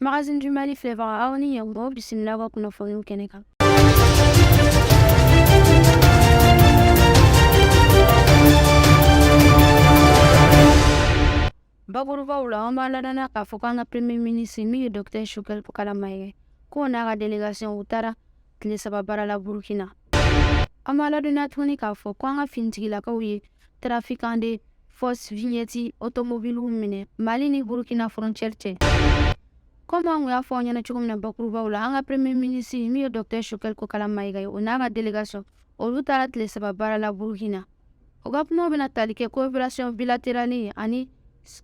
Magazine du Mali filɛbaga aw ni ɲɛmɔgɔ bisimila ka kunnafoniw kɛnɛ kan. Bakurubaw la, an b'a ladɔnniya k'a fɔ k'an ka Premier ministre min ye Docteur Choguel Kala Mayiga k'o n'a ka délégation u taara tile saba baara la burukina an b'a ladɔnniya tuguni k'a fɔ ko an ka finitigilakaw ye trafiquant de fausse vignette otomobiliw minɛ mali ni burukina frontière cɛ komi an kun y'a fɔ aw ɲɛna cogo min na bakurubaw la an ka premier ministre min ye docteur choguel kokala mayiga ye o n'a ka délégation olu taara tile saba baara la burukina u ka kumaw bɛna tali kɛ coopération bilatérale ani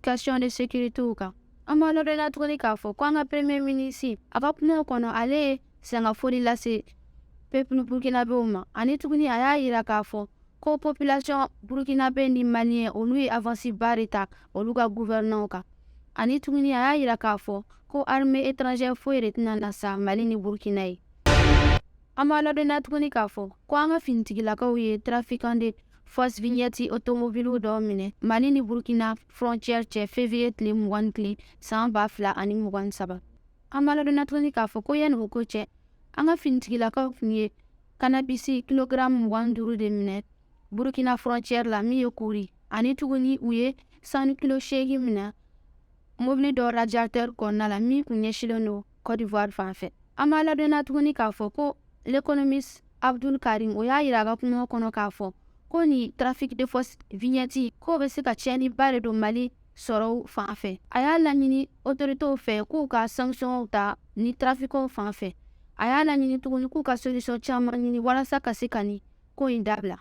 question de sécurité kan an b'a ladɔnniya tuguni k'a fɔ ko an ka premier ministre a ka kumaw kɔnɔ ale ye sangafoli lase peuple burukinabɛw ma ani tuguni a y'a jira k'a fɔ ko population burukinabɛ ni maliyɛn olu ye avance ba de ta olu ka guvɛrɛnɛw kan ani tuguni a y'a jira k'a fɔ ko armée étrangère foyi de tɛna na sa mali ni burukina ye an b'a ladɔnniya tuguni k'a fɔ ko an ka finitigilakaw ye trafiquant de fausse vignette otomobiliw dɔw minɛ mali ni burkina frontière cɛ fevriye tile mugan ni tile san ba fila ani mugan ni saba An b'a ladɔnniya tuguni k'a fɔ ko yanni o ko cɛ an ka finitigilakaw kun ye kannabisi kilogaramu mugan ni duuru de minɛ burukina frontière la min ye kuri ani tuguni u ye sanu kilo seegin minɛ mobili dɔ radiatɛri kɔnɔna la min kun ɲɛsilen don côte d'ivoire fan fɛ an b'a ladɔnniya tuguni k'a fɔ ko l'économiste abdul karim o y'a yira a ka kumaw kɔnɔ k'a fɔ ko ni trafic de fausse vignette k'o bɛ se ka tiɲɛniba de don mali sɔrɔw fan fɛ a y'a laɲini otoritew fɛ k'u ka sankisiyɔnw ta ni tarafikanw fan fɛ a y'a laɲini tuguni k'u ka solution caman ɲini walasa ka se ka ni ko in dabila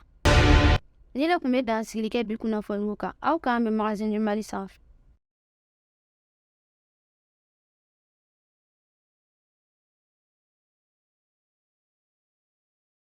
ni ne kun bɛ dansigili kɛ bi kunnafoniw kan aw k'an bɛn magazine du mali sanfɛ